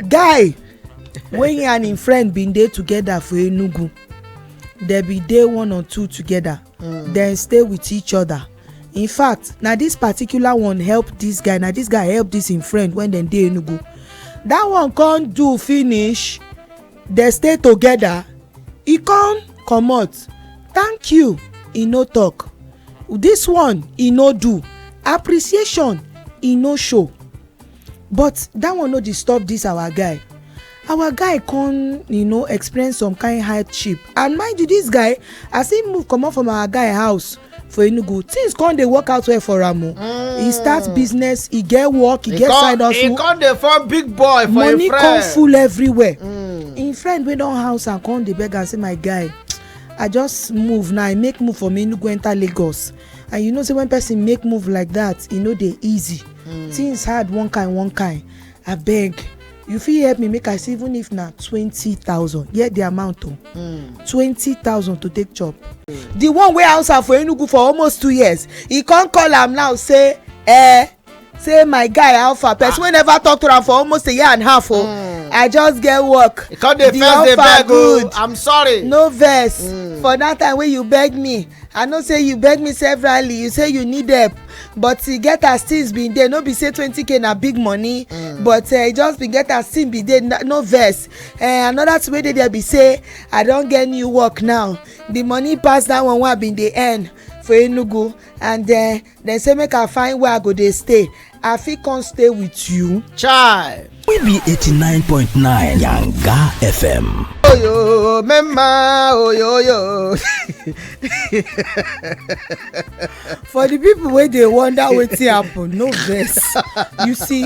guy wey he and him friend bin dey together for enugu dem bin dey one or two together mm. dem stay with each other in fact na this particular one help this guy na this guy help this him friend when dem dey enugu that one come do finish dem stay together e come comot thank you e no talk this one e no do appreciation e no show But that one no disturb this our guy. Our guy come, you know, experience some kind hardship. And mind you, this guy, as he move comot from our guy house for Enugu, things come dey work out well for am o. Mm. He start business, he get work, he, he get come, side hustle. He come dey form big boy for Money him friend. Money come full everywhere. Mm. Him friend wey don house am come dey beg am say my guy, I just move now, I make move from Enugu enter Lagos. and you know say when person make move like that e no dey easy mm. things hard one kind one kind abeg you fit help me make i see even if na twenty thousand hear the amount o oh. mm. twenty thousand to take chop mm. the one wey house am for enugu for almost two years e come call am now say eh say my guy alpha person wey never talk to am for almost a year and half o oh. mm. i just get work the offer oh. good i'm sorry no vex mm. for that time wey you beg me i know say you beg me severally you say you need help but e get as things bin dey no be say twenty k na big money mm. but eh, e just bin get as things bin dey no vex eh, another thing wey dey there be say i don get new work now the money pass that one wey i bin dey earn for enugu and eh, dem say make i find where i go dey stay i fit come stay with you chai we be 89.9 yanga fm oyo mema oyoyo for the people wey dey wonder wetin happen no vex you see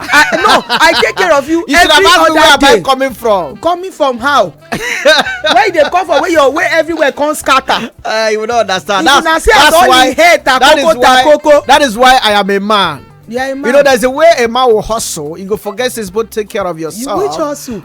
I, no i take care of you, you every other day you should have asked me where am i coming from coming from how where you dey come from where your way everywhere come scatter. Uh, you no understand that's that's, that's why that is why that is why i am a man yeah, you know, there's a way a man will hustle. You go forget this, but take care of yourself. You which hustle?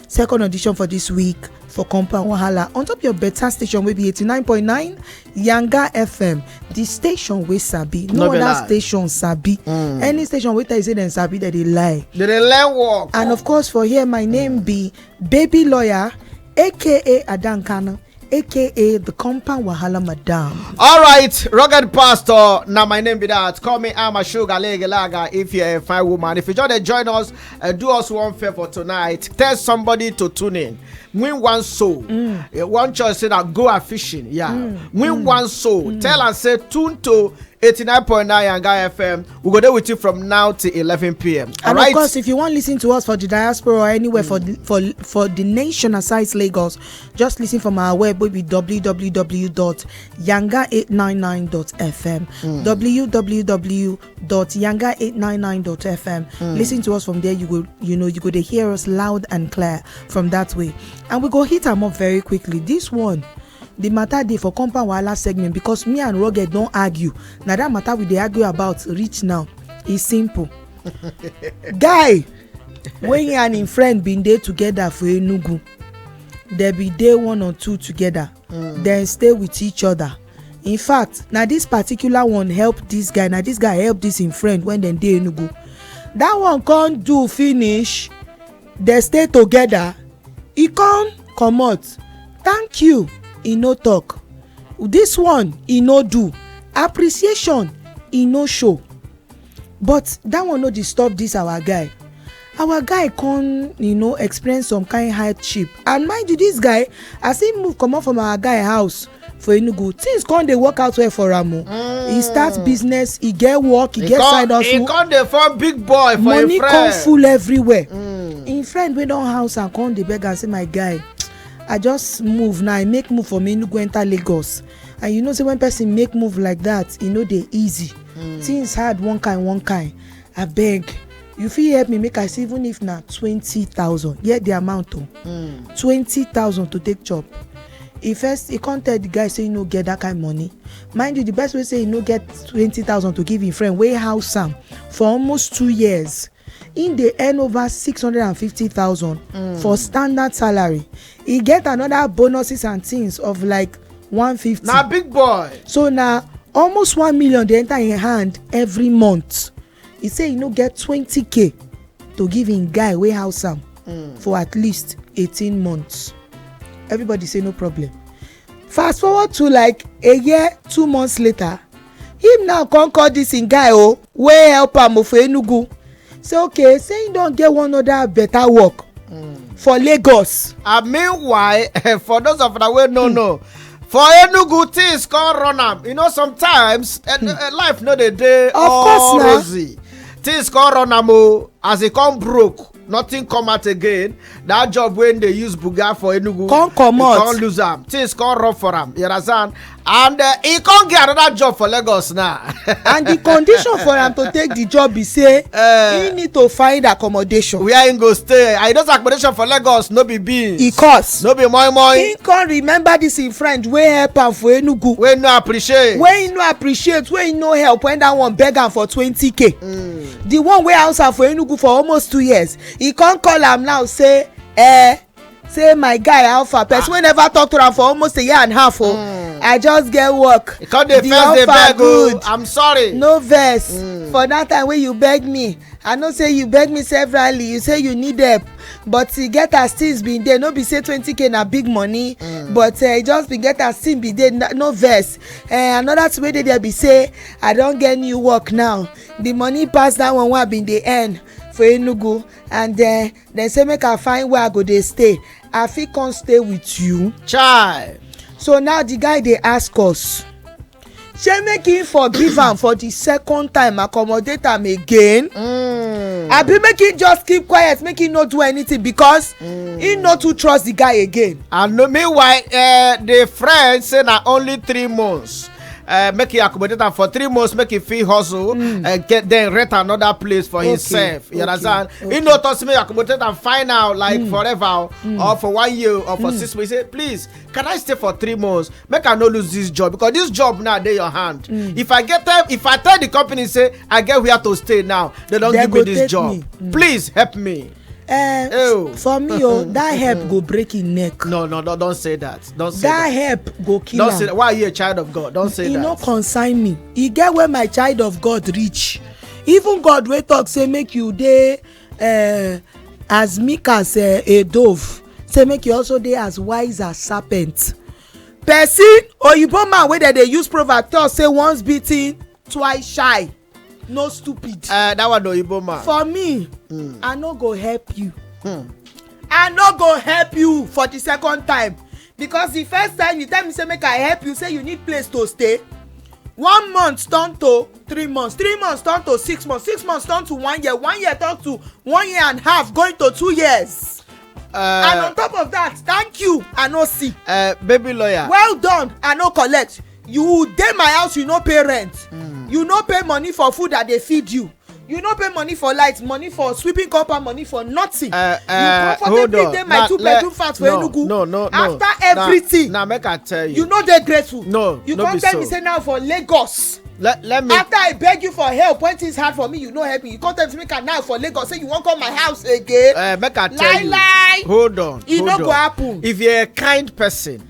second audition for dis week for compound wahala on top your beta station wey be 89.9 yanga fm di station wey sabi no oda station sabi mm. any station wey tell you say dem sabi dem dey lie dem dey lie work and of course for here my name be baby lawyer aka adankana aka the compound wahala madam. all right rugged pastor Now my name be that call me I'm a sugar lege lager if you're a fine woman if you just join us uh, do us one favor tonight tell somebody to tune in win one soul mm. uh, one choice say that go a fishing yeah mm. win mm. one soul mm. tell and say tune to 89.9 Yanga FM. We go there with you from now to 11 p.m. All and right? of course, if you want to listen to us for the diaspora or anywhere mm. for, the, for for the nation aside Lagos, Just listen from our web will be www.yanga899.fm. Mm. www.yanga899.fm. Mm. Listen to us from there. You go, you know, you go to hear us loud and clear from that way. And we go hit them up very quickly. This one the matter dey for compound wahala segment because me and rugged don argue na that matter we dey argue about reach now e simple guy wey he and him friend bin dey together for enugu dem bin dey one on two together mm. dem stay with each other in fact na this particular one help this guy na this guy help this im friend when dem dey enugu that one come do finish dem stay together e come comot thank you e no talk this one e no do appreciation e no show but that one no disturb this our guy our guy come you know experience some kind hardship and mind you this guy as he move comot from our guy house for enugu things come dey work out well for am o mm. he start mm. business he get work he, he get come, side hustle he come dey form big boy for money him friend money come full everywhere mm. him friend wey don house am come dey beg am say my guy i just move now i make move from enugu enter lagos and you know say when person make move like that e no dey easy mm. things hard one kind one kind abeg you fit help me make i see even if na twenty thousand hear the amount o oh. mm. twenty thousand to take chop he first he come tell the guy say he no get that kind money mind you the best way say he no get twenty thousand to give him friend wey house am for almost two years him dey earn over six hundred and fifty thousand mm. for standard salary e get another bonuses and things of like one fifty. na big boy. so na almost one million dey enter im hand every month e say e no get twenty k to give im guy wey house am mm. for at least eighteen months everybody say no problem fast forward to like a year two months later him now come call this him guy o wey help am o for enugu say okay say him don get one other better work hmm. for lagos. and meanwhile for those of una wey no hmm. know for enugu things come run am you know sometimes eh, hmm. eh, life no dey dey all rosy things come run am o as e come broke nothing come out again that job wey dey use buga for enugu come comot come lose am things come rub for am you understand and uh, he come get another job for lagos now. and the condition for am to take the job be say uh, he need to find accommodation. where he go stay and he don accommodation for lagos no be beans. e cost no be moi moi. he come remember this him friend wey help am for enugu. wey no appreciate. wey he no appreciate wey he no help when that one beg am for twenty k. Mm. the one wey house am for enugu for almost two years he come call am now say eh say my guy alpha person ah. wey never talk to am for almost a year and a half o oh. mm. i just get work the offer oh. good i'm sorry no vex mm. for that time wey you beg me i know say you beg me severally you say you need help but e get as things bin dey no be say twenty k na big money mm. but eh, e just bin get as things bin dey no vex eh, another thing wey dey there be say i don get new work now the money pass that one wey i bin dey earn for enugu and then eh, dem say make i find where i go dey stay i fit come stay with you. chai. so now the guy dey ask us shey make him forgive am for the second time accommodate am again. Mm. abi make him just keep quiet make him no do anything because mm. he no too trust the guy again. and meanwhile uh, the friend say na only three months uh, make e accommodate am for three months make e fit hustle mm. uh, get then rent another place for okay. himself you okay. understand okay. he no talk say make e accommodate am fine now like mm. forever oh, mm. or for one year or for mm. six months he say please can i stay for three months make i no lose this job because this job now dey your hand mm. if i get time if i tell the company say i get where to stay now they don give me this job me. Mm. please help me. eh, Ew. for me oh that herb go break him neck no no no don say that don say that that herb go kill don say am that why you a child of god don say e no that concern me e get where my child of god reach even god wey talk say make you dey uh, as meek as uh, a dove say make you also dey as wise as serpent person oyibo man wey dem dey use proverb talk say once beaten twice shy no stupid eh that one oyibo man for me hmm. i no go help you hmm. i no go help you for the second time because the first time you tell me say make i help you say you need place to stay one month turn to three months three months turn to six months six months turn to one year one year turn to one year and half going to two years. Uh, and on top of that thank you i no see. Uh, baby lawyer. well done i no collect you dey my house you no pay rent mm. you no pay money for food i dey feed you you no pay money for light money for sweeping compound money for nothing uh, uh, you comfortably dey my two bedroom flat for enugu no, no, no, after everything na make i tell you you no dey grateful no you come tell me say now for lagos let let me after i beg you for help when things hard for me you no help me you come tell me make i now for lagos say you wan come my house again uh, make i tell lie, you lie hold on e no go happen if you're a kind person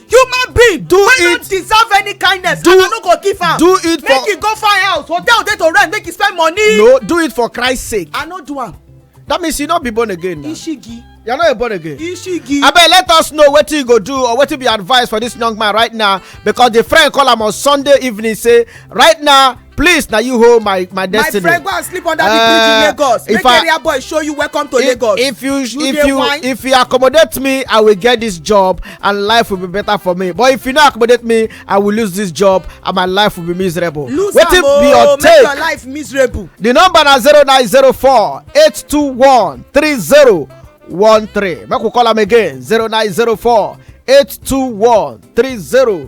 human being do it wey no deserve any kindness do, and i no go give am do it for make e go find house hotel dey to rent make e spend money no do it for christ sake i no do am that means you no be born again na ishigi you no a born again ishigi abeg let us know wetin you go do or wetin be advice for this young man right now because the friend call am on sunday evening say right now please na you hold my my destiny. my friend go and sleep under the bridge in eh, lagos make area boy show you welcome to lagos. if you if you if you accommodate me i will get this job and life will be better for me but if you no accommodate me i will lose this job and my life will be miserable. lose am o oh, make your life miserable. the number na zero nine zero four eight two one three zero one three make we call am again zero nine zero four eight two one three zero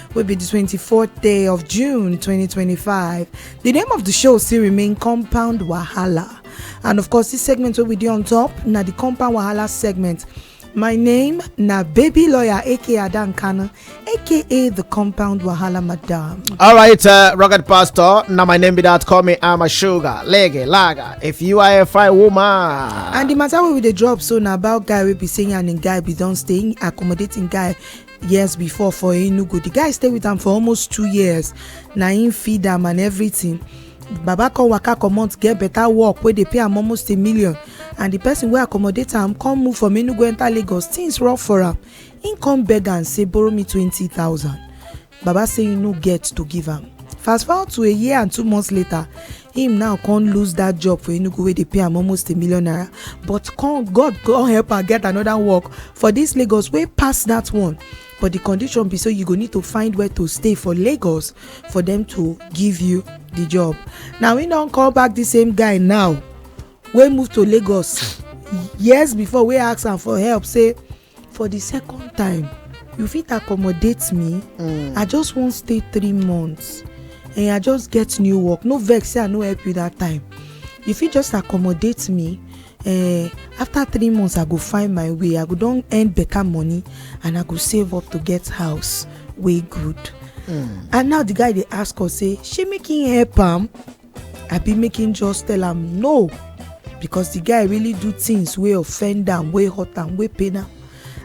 will be the 24th day of June 2025. The name of the show still remain Compound Wahala. And of course, this segment will be there on top. Now the Compound Wahala segment. My name na baby lawyer aka Adan Kana aka the compound wahala madam. All right, uh, Rocket Pastor. Now my name be that. Call me I'm a sugar, lege, lager. If you are a fine woman. And the matter wey we dey drop so na about guy wey be saying and im guy be don stay accommodating guy years before for enugu the guy stay with am for almost two years na him feed am and everything baba come waka comot get better work wey dey pay am almost a million and the person wey accommodate am come move from enugu enter lagos things rough for am him come beg am say borrow me twenty thousand baba say he no get to give am fast forward to a year and two months later him now come lose that job for enugu wey dey pay am almost a million naira but come god come help am get another work for this lagos wey pass that one but the condition be say you go need to find where to stay for lagos for them to give you the job now he don call back the same guy now wey move to lagos years before wey ask am for help say for the second time you fit accommodate me mm. i just wan stay three months and i just get new work no vex say i no help you that time you fit just accommodate me uh, after three months i go find my way i go don earn better money and i go save up to get house wey good mm. and now the guy dey ask us say shey make him help am abi make him just tell am no because the guy really do things wey offend am wey hurt am wey pain am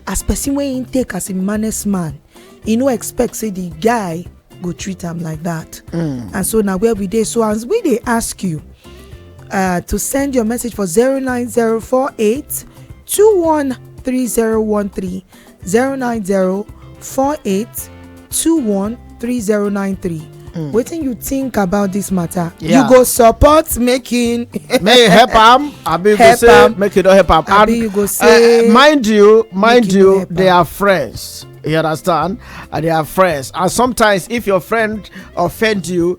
as person wey him take as him maness man he no expect say the guy go treat am like that mm. and so na where we dey so as we dey ask you uh, to send your message for 09048 213013 090 48 21 3093 wetin you think about this matter you Yeah. go support making may you help am abi you go Help say am. make you no help am Abi you go say uh, mind you mind make you no you help they am. are friends you understand and they are friends and sometimes if your friend offend you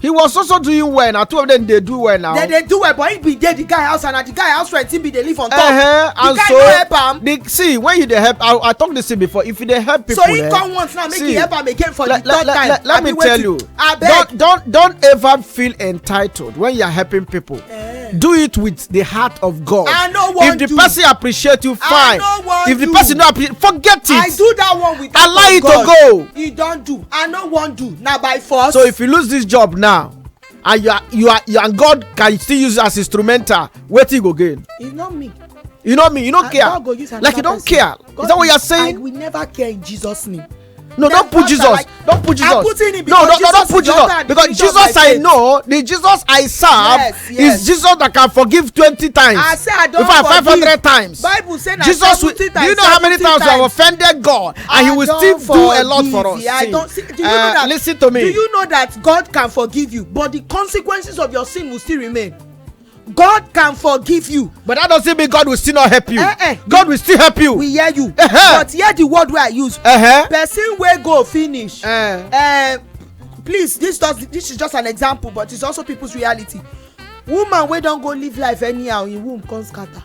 he was also doing well na two of them dey do well now. dem dey do well but he bin dey the guy house and na the guy house rent he bin dey live on top. Uh -huh. the guy so, no help am. the see when you dey help i i talk this thing before if you dey help people. so he eh, come once now make see, he help am again for like, the third like, time. Like, let me tell you don don don ever feel entitled when you are helping people do it with the heart of god i no wan if the person appreciate you fine if the person no appreciate forget it i do that one with allow it to go he don do i no wan do na by force so if you lose this job now and you are you are you and god can still use as instrumental wetin you go gain e no me you know me you no care like you don care is that what you are saying i will never care in jesus name no don't put jesus like, don't put jesus no no no don't put jesus because jesus i know the jesus i serve yes, yes. is jesus that can forgive twenty times i say i don forgive five hundred times bible say na jesus will, times, do you know how many times i have offended god and I he will still forgive. do a lot for us yeah, see, I don't, see, do you uh, know that listen to me do you know that god can forgive you but the consequences of your sin will still remain God can forgive you. But that doesn't mean God will still not help you. Uh -uh. God will still help you. We hear you. Uh -huh. But hear the word wey I use. Uh -huh. Person wey go finish. Uh -huh. uh, please this does this is just an example but it's also people's reality woman wey don go live life anyhow im womb come scatter.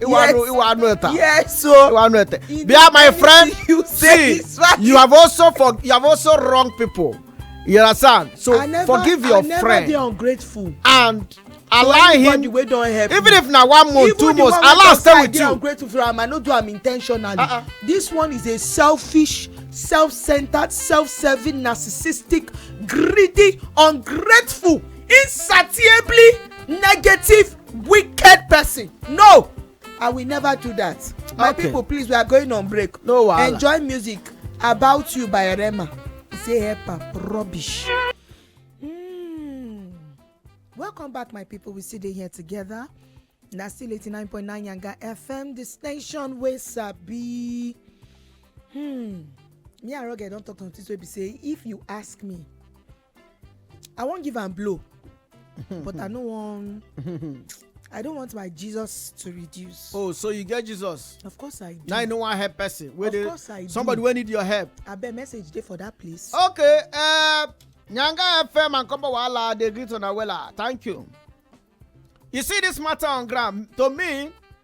Iwanu, Iwanu Eta. Yes, so Iwanu Eta. Bia, my friend, you say see, you have also for you have also wrong people. You understand? So never, forgive your I never friend. Be ungrateful. And allow him wey don help even me. if na one month even two months allow stay with you. even the one wey don say i dey ungrateful for am i no do am intentionally. Uh -uh. this one is a selfish self-centered self-serving narcissistic greedy ungrateful insatiably negative wicked person no i will never do that my okay. people please we are going on break no wahala enjoy music about you by rema say help am rubbish. Mm. welcome back my people we still dey here together na still eighty nine point nine yanga fm the station wey sabi. Hmm. me and rugged don talk something wey be say if you ask me i wan give am blow but i no wan i don't want my jesus to reduce oh so you get jesus of course i do now you no wan help person wey dey somebody wey need your help abeg message dey for that place okay uh, nyanga fm and combo wahala dey greet una wella thank you you see this matter on ground to me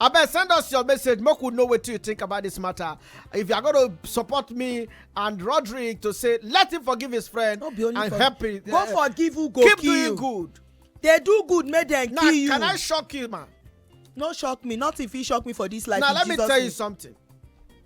abeg send us your message make we know wetin you think about this matter if you are going to support me and roderick to say let him forgive his friend no be only and for help him go eh, forgive who go keep kill doing good dey do good make dem kill you now can i shock you ma. no shock me nothing fit shock me for this life now let me tell you something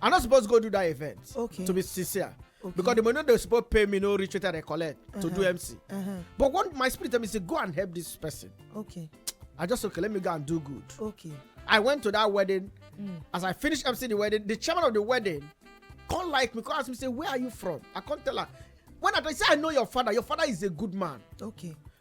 i no suppose go do that event okay to be sincere okay. because the money they suppose pay me no reach wetin i collect uh -huh. to do uh-huh. mc uh -huh. but one my spirit tell me say go and help this person okay i just okay let me go and do good okay i went to that wedding mm. as i finish mc the wedding the chairman of the wedding come like me come ask me say where are you from i come tell her when i say i know your father your father is a good man okay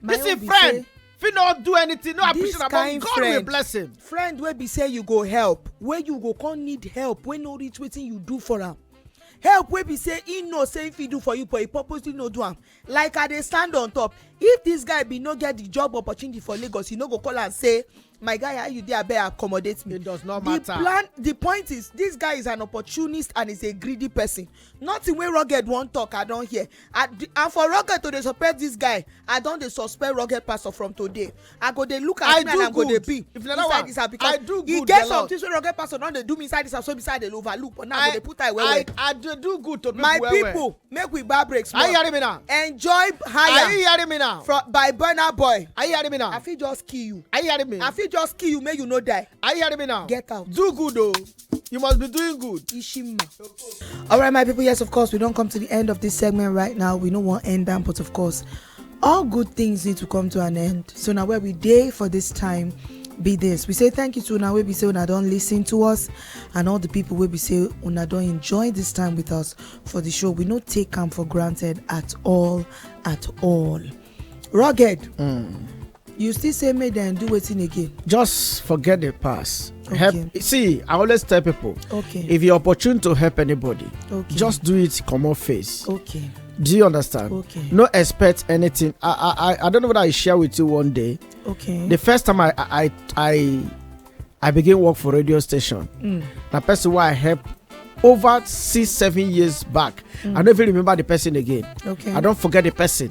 my this is friend fit not do anything no appreciate am but god friend, will bless him. friend wey be say you go help wey you go come need help wey no reach wetin you do for am help wey be say he know say if he do for you but he purposely no do am like i dey stand on top if this guy bin no get the job opportunity for lagos he no go call am say my guy how you dey abeg accommodate me it does not matter the plan the point is this guy is an opportunist and is a greedy person nothing wey rugged wan talk i don hear and and for rugged to dey suspect this guy i don dey suspect rugged pastor from today i go dey look at him and i go dey be inside this house because e get some things wey rugged pastor don dey do me inside this house wey be say i dey overlook but now i go dey put eye well well i dey do good to people well well my people make we bar break small. are you hearing me now. enjoy higher. are you hearing me now. from by burna boy. are you hearing me now. i fit just kill you. are you hearing me. i fit just kill you make you no die. are you hearing me now. get out. do good o. Oh. you must be doing good. ishima. all right my people yes of course we don come to the end of this segment right now we no wan end am but of course all good things need to come to an end so now where we day for this time be this we say thank you to now we be say una don't listen to us and all the people we be say una don't enjoy this time with us for the show we no take come for granted at all at all rugged mm. you still say make dem do wetin again. just forget the past okay. help see i always tell people okay if you're opportune to help anybody okay just do it come on face okay do you understand okay no expect anything i i i don't know what i share with you one day okay the first time i i i i begin work for radio station mm. na person why i help over six seven years back mm. i don't even remember the person again okay i don't forget the person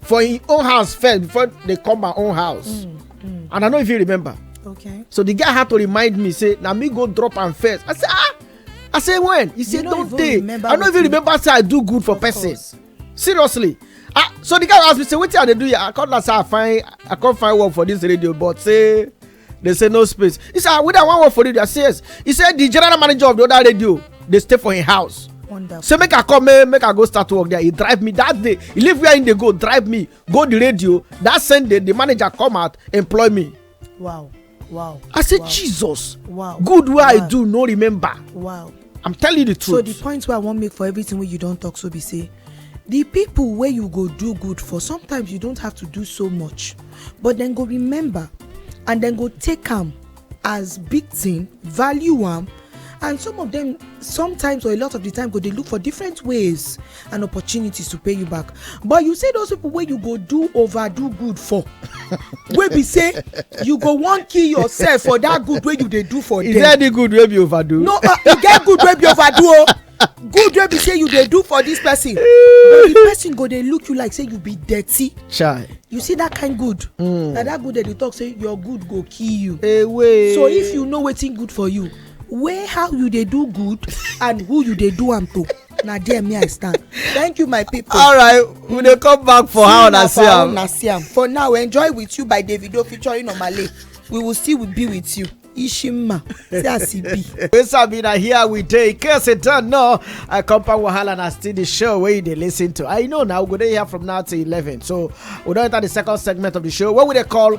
for him own house first before they come my own house mm, mm. and i no even remember okay so the guy had to remind me say na me go drop am first i say ah i say when he say don tey i no even remember say i do good for person seriously ah so the guy ask me say wetin i dey do here i come na say i find i come find work for this radio but say they say no space he say ah whether i wan work for radio i say yes he say the general manager of the other radio dey stay for him house Wonderful. say make i come make, make i go start work there he drive me that day he leave where he dey go drive me go the radio that same day the manager come out employ me. wow wow. i say wow. jesus. wow good wey wow. i do no remember. wow i'm telling you the truth so the point wey i wan make for everything wey you don talk so be say the people wey you go do good for sometimes you don't have to do so much but then go remember and then go take am as big thing value am and some of them sometimes or a lot of the time go dey look for different ways and opportunities to pay you back but you say those people wey you go do overdo good for wey be say you go wan kill yourself for that good wey you dey do for them. is there any good wey be overdo. no uh, e get good wey be overdo o oh. good wey be say you dey do for this person but the person go dey look you like say you be dirty. chai you see that kind good. Mm. na that good dem dey talk say your good go kill you. Away. so if you know wetin good for you weigh how you dey do good and who you dey do am to. na there me i stand thank you my people. all right we dey come back for how una see am. una see am for now enjoy with you by davido featuring omale we will still be with you. Ishima, see as e be. Wey sabi na here we dey. In case you don't know, I compound wahala na still the show wey you dey lis ten to. I know now we go dey here from now till eleven. So we don enter the second segment of the show wey we dey call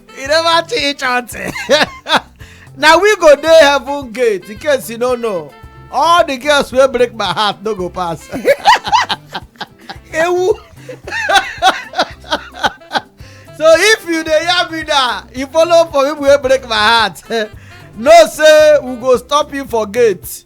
e never teach auntie na we go dey heaven gate in case you no know all the girls wey break my heart no go pass ewu so if you dey hear me now you follow for people wey break my heart know say we go stop you for gate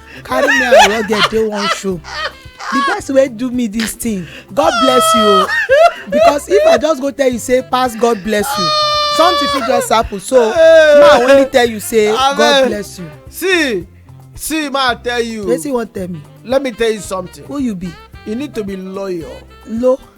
carry me and your girl dey one show the person wey do me this thing god bless you o because if i just go tell you say pass god bless you something fit just happen so ma only tell you say god bless you. see see ma tell you. wetin you wan tell me. let me tell you something. who you be. you need to be loyal. lo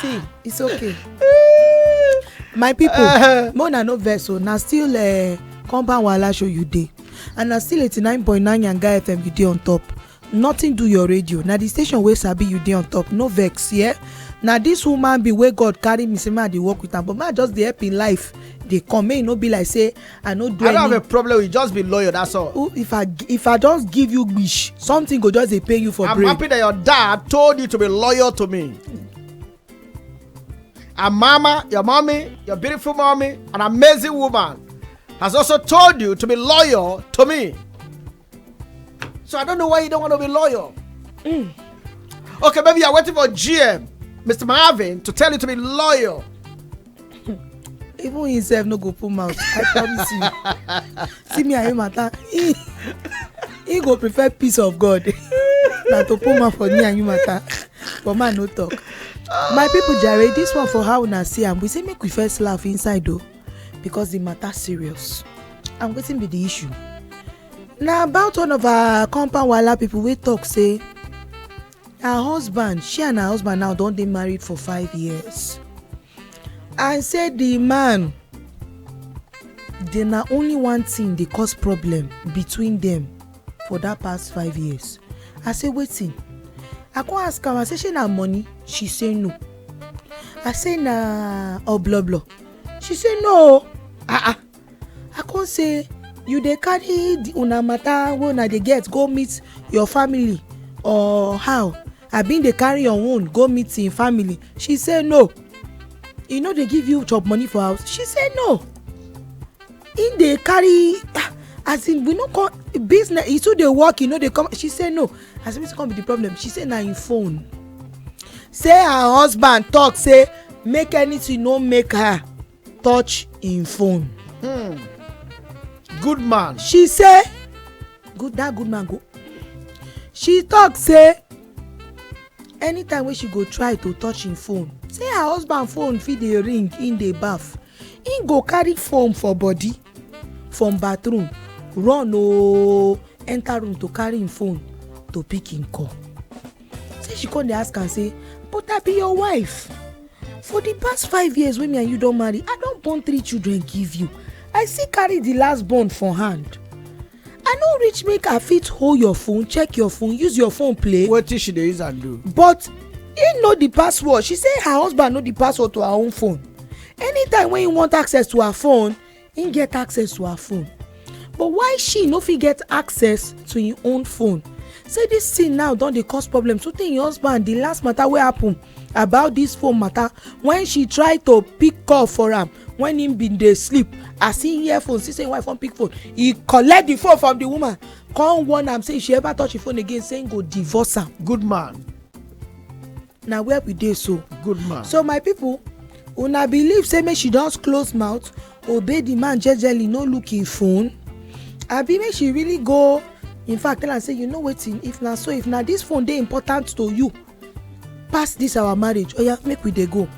see it's okay my people uh-huh. more na no vex o na still uh, compound wahala show you dey and na still eighty nine point nine yanga fm you dey on top nothing do your radio na the station wey sabi you dey on top no vex yeah? na this woman be wey god carry me say make i dey work with am but make i just dey help im life dey come make e no be like say i no do i don't have a problem with just be loyal that's all Ooh, if i if i just give you wish something go just dey pay you for i'm brain. happy that your dad told you to be loyal to me and mama your mommy your beautiful mommy an amazing woman has also told you to be loyal to me So I don't know why you don't want to be loyal. Mm. Okay, maybe you're waiting for GM, Mr. Marvin, to tell you to be loyal. Even himself no go put mouth. I promise you. See me and him matter. He, he go prefer peace of God than to put mouth for me and you matter. But man no talk. My people jare, this one for how una see am. We say make we first laugh inside though. because the matter serious and wetin be the issue na about one of our compound wahala people wey talk say her husband she and her husband now don dey married for five years and say the man dey na only one thing dey cause problem between them for that past five years i say wetin i come ask am i say shey na money she say no i say na obloblo she say no ah ah i come say you dey carry the una matter wey una dey get go meet your family or how i bin dey carry your own go meet im family she say no e no dey give you chop money for house she say no he dey carry ah, as in we no come business he too dey work he no dey come she say no as in wetin come be the problem she say na him phone say her husband talk say make anything no make her touch him phone. Hmm. good man. she say good that good man go she talk say anytime wey she go try to touch him phone say her husband phone fit dey ring him dey baff He go carry foam for body from bathroom run ooo enter room to carry him phone to pick him call say she come dey ask am say but i be your wife for the past five years wey me and you don marry i don born three children give you i still carry the last born for hand i no reach make i fit hold your phone check your phone use your phone play wetin she dey use am do but he know the password she say her husband know the password to her own phone anytime when he want access to her phone he get access to her phone but why she no fit get access to him own phone say this thing now don dey cause problem so tey him husband the last matter wey happen. about dis phone mata wen she try to pick call for am wen im bin dey sleep as im hear phone see say im wife wan pick phone e collect di phone from di woman come warn am say if she ever touch di phone again say im go divorce am good man na where we dey so good man so my pipo una believe say make she just close mouth obey di man jejely no look im phone abi make she really go in fact tell am say you know wetin if na so if na dis phone dey important to you pass this our marriage oya oh make we dey go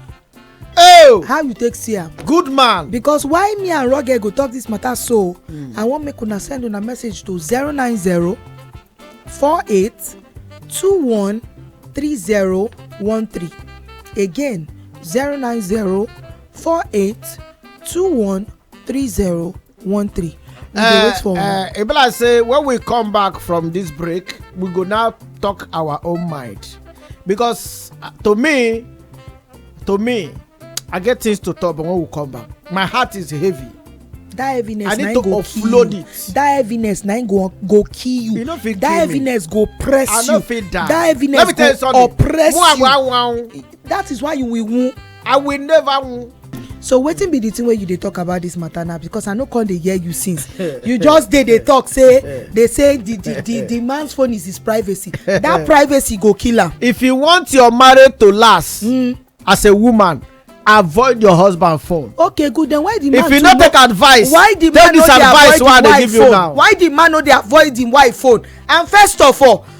oh how you take see am good man because why me and roger go talk this matter so hmm. i wan make una send una message to zero nine zero four eight two one three zero one three again zero nine zero four eight two one three zero one three. we dey eh, wait for una. e be like say when we come back from this break we go now talk our own mind because uh, to me to me i get things to talk but when we come back my heart is heavy that heaviness i need to offload you. it that heaviness na go go kill you you no fit kill me that heaviness go press you i no fit die that heaviness go oppress you that is why you will wound i will never win so wetin be the thing wey you dey talk about this matter now because i no come dey hear you since you just dey dey talk say dey say the the the the man's phone is his privacy that privacy go kill am. if you want your marriage to last mm. as a woman avoid your husband phone. okay good then why the man if you no take advice why the man no dey avoid him wife phone why the man no dey avoid him wife phone and first of all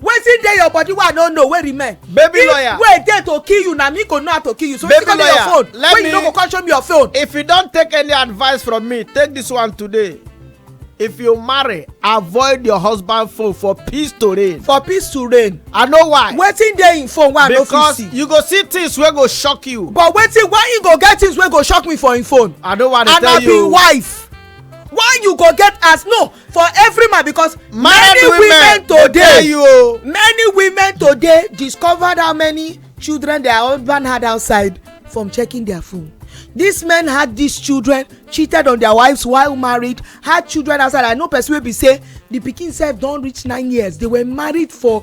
wetin dey your body wey i no know wey remain. baby if lawyer if wey dey to kill you na me go know how to kill you so baby you go your phone let wey me, you no go come show me your phone. if you don take any advice from me take this one today if you marry avoid your husband phone for peace to reign. for peace to reign. i know why. wetin dey im phone wey i no fit see. because you go see things wey go shock you. but wetin why you go get things wey go shock me for im phone. i no wan tell you. and i be wife why you go get as no for every man because many women today you many women today discovered how many children their husband had outside from checking their phone these men had these children cheated on their wives while married had children outside i know person wey be say the pikin sef don reach nine years they were married for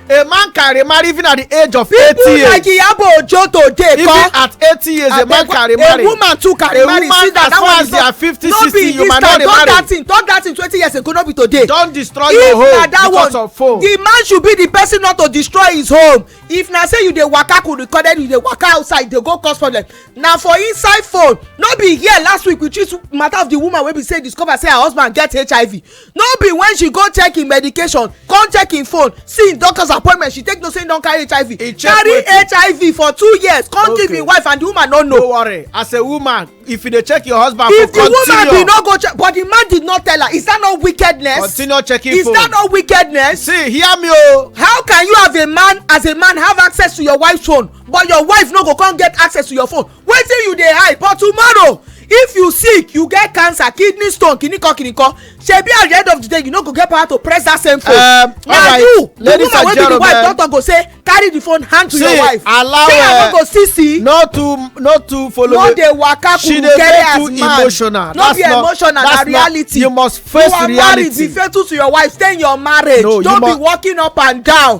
a man can remarry even at the age of eighty years. people like iyabo ojo today even come at eighty years a man can remarry a woman too can remarry see that that one is not fifty sixty you might not remarry no be this time talk that thing talk that thing twenty years ago no be today. don destroy if your home because one, of phone. the man should be the person not to destroy his home if na say you dey waka could recorded you dey waka outside dey go cause problem na for inside phone no be here last week we treat matter of the woman wey be say discover say her husband get hiv no be when she go check him medication come check him phone see him doctor's appointment she take no say he don carry hiv he carry hiv for two years come okay. give him wife and the woman no know. no worry as a woman if you dey check your husband if for continue if the woman bin no go check but the man did not tell her is that not wickedness continue checking is phone is that not wickedness see hear me o oh. how can you have a man as a man have access to your wife's phone but your wife no go come get access to your phone wetin you dey hide for tomorrow if you sick you get cancer kidney stone kiniko kiniko shebi at the end of the day you no go get power to press that same phone. Um, na you the woman wey be the wife don talk go say carry the phone hand to see, your wife allow say i no go see see. no too no too follow no dey waka kurukere as man emotional. no be emotional na reality you must face reality you are married be faithful to your wife stay in your marriage no, don't you be walking up and down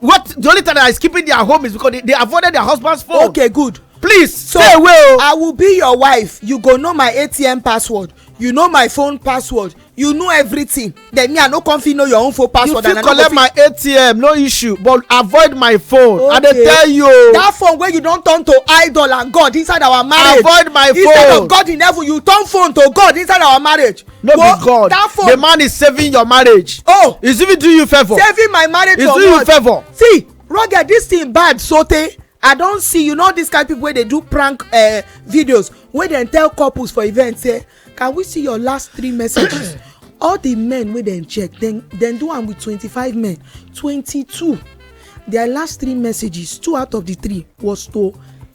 what the only time that is keeping their home is because they, they avoided their husband's phone. okay good. please so stay away o. Oh. i will be your wife you go know my atm password you know my phone password you know everything then me i no come fit know your own phone password and i no go fit. you fit collect my atm no issue but avoid my phone okay. i dey tell you. Oh. that phone wey you don turn to idol and god inside our marriage. avoid my phone instead of god in heaven you turn phone to god inside our marriage. no well, be god that phone, the man is saving your marriage oh he's even doing you favour saving my marriage he's for doing what? you favour see rugged this thing bad sote i don see you know this kind of people wey dey do prank uh, videos wey dem tell couples for event say eh, can we see your last three messages all the men wey dem check dem dem do am with twenty-five men twenty-two their last three messages two out of the three was to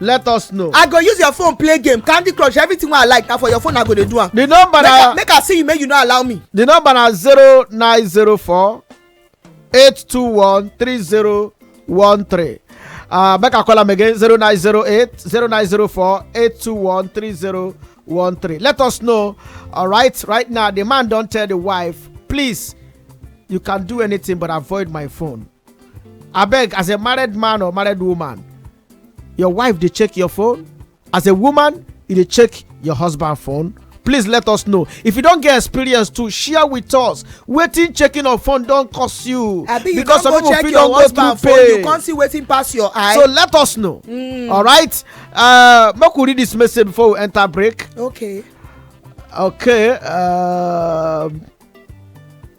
let us know i go use your phone play game candy crush everything wey i like na for your phone i go dey do am the number na make i see you make you no allow me the number na zero nine zero four eight two one three zero one three uh, make i call am again zero nine zero eight zero nine zero four eight two one three zero one three let us know all right right now the man don tell the wife please you can do anything but avoid my phone abeg as a married man or married woman your wife dey check your phone as a woman you dey check your husband phone please let us know if you don get experience too share with us wetin checking of phone don cost you abi you don go check your husband phone you come see wetin pass your eye so let us know hmm. all right uh, make we read this message before we enter break okay okay uh,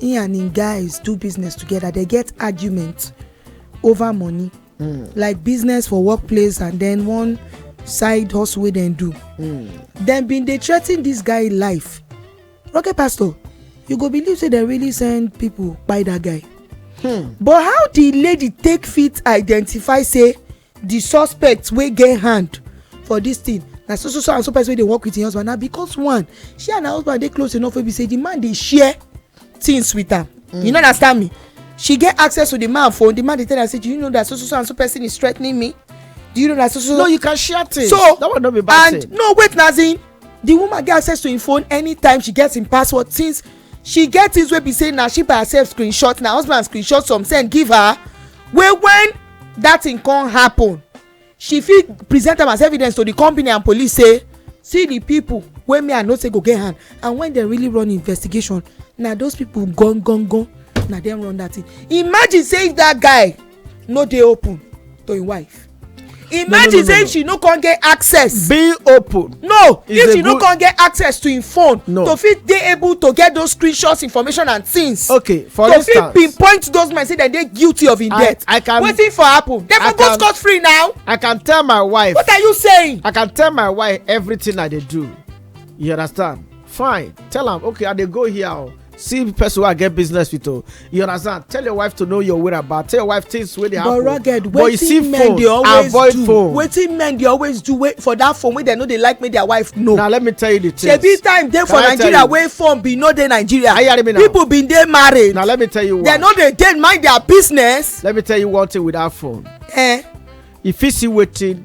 he and him guys do business together they get argument over money mm. like business for workplace and then one side hustle wey dem do mm. dem bin dey threa ten dis guy life rocket pastor you go believe say dem really send pipo kpai dat guy hmm. but how di lady take fit identify say the suspect wey get hand for this thing na so so so and so person wey dey work with him husband na because one she and her husband dey close enough wey be say the man dey share things with am mm. you no understand me she get access to the man phone the man dey tell am say do you know that so so so and so person is threatening me do you know that so so. no you can share things so that one no be bad and thing. no wait na as in the woman get access to him phone anytime she get him password since she get things wey be say na she by herself screenshot na husband screenshot some send give her wey when that thing come happen she fit present am as evidence to the company and police say see the people wey me i know say go get hand and when dem really run investigation na those people gun gun gun na dem run that thing imagine say if that guy no dey open to im wife imagine say if she no come get access be open no if she no come get access to im phone to fit dey able to get those screenshots information and things okay for instance to fit pinpoint those men say dem dey guilty of im death wetin for happen dem for go scot free now i can tell my wife what are you saying i can tell my wife everything i dey do you understand fine tell am okay i dey go here o oh. see the person wey i get business with o you understand tell your wife to know your whereabout tell your wife things wey dey happen but rugged wetin men dey always do phone. wetin men dey always do wey for that phone wey dem no dey like make their wife know na let me tell you the thing shebi time dey for nigeria wey phone bin no dey nigeria people bin dey married na let me tell you why dem no dey dey mind their business let me tell you one thing with that phone eh e fit see wetin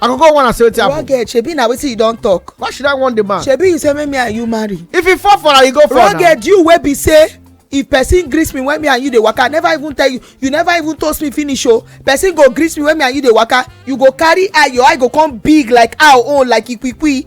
i go go wanna say wetin happen. rugged shebi na wetin you don talk. why should i want the man. shebi you say make me and you marry. if you fall for am you go fall na. rugged you wey be say if person greet me when me and you dey waka i never even tell you you never even toast me finish o oh. person go greet me when me and you dey waka you go carry eye your eye go come big like owl own like ikwikwi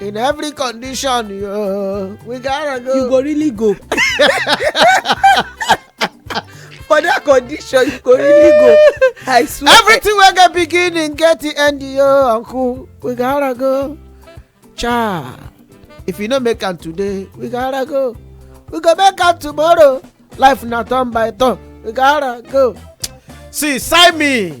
in every condition yo, we gotta go. you go really go. for that condition you go really go i swear. everything wey get beginning get the end yo uncle we gotta go. cha if you no make am today we gotta go we go make am tomorrow life na turn by turn we gotta go. see sign me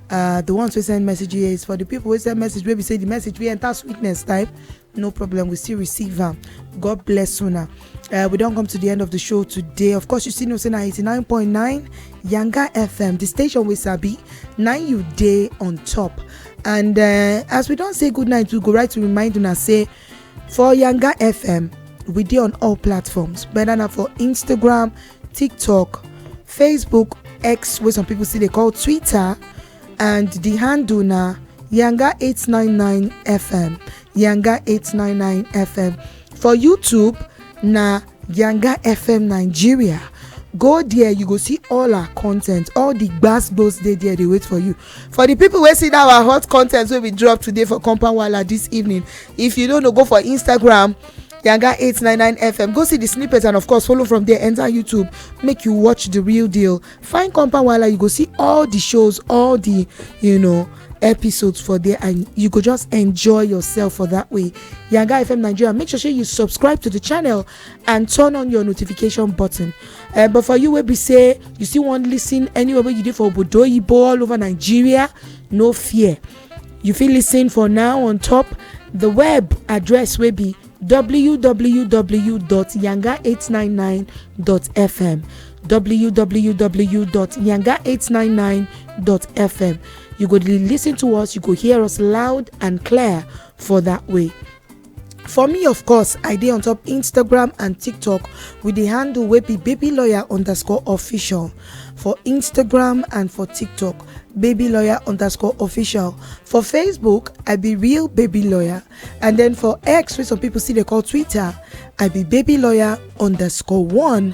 uh, the ones wey send message here is for the people wey send message wey be say the message wey enter sweetness type no problem we still receive am god bless una uh, we don come to the end of the show today of course you still know say na 89.9 yanga fm the station wey sabi na you dey on top and uh, as we don say good night we go right to remind una say for yanga fm we dey on all platforms whether na for instagram tiktok facebook x wey some people still dey call twitter and the handle na yanga 899 fm yanga 899 fm for youtube na yanga fm nigeria go there you go see all our content all the gbas gbos dey there dey wait for you for the people wey see that our hot content wey we drop today for compound wala this evening if you no know go for instagram Yanga 899 FM. Go see the snippets and of course follow from there. Enter YouTube, make you watch the real deal. Find Compound Wala, you go see all the shows, all the you know episodes for there, and you go just enjoy yourself for that way. Yanga FM Nigeria, make sure you subscribe to the channel and turn on your notification button. Uh, but for you, where we say you still want listen anywhere you did for Obodo Ibo all over Nigeria, no fear. You fit listen for now on top the web address wey be www.yanga899.fm www.yanga899.fm you go dey listen to us you go hear us loud and clear for that way for me of course i dey on top instagram and tiktok with di handle wey be baby lawyer underscore official for instagram and for tiktok baby lawyer underscore official for facebook i be real baby lawyer and then for x wey some people still dey call twitter i be baby lawyer underscore one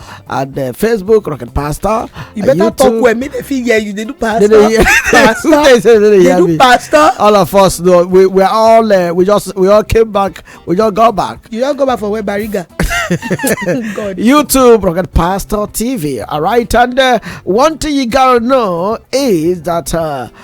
and uh, facebook rocket pastor you better YouTube. talk well make dem fit hear you dey do pastor they dey pastor dey do pastor all of us no we we all uh, we just we all came back we just go back you just go back for where bariga YouTube, Rocket Pastor TV. All right, and uh, one thing you gotta know is that uh,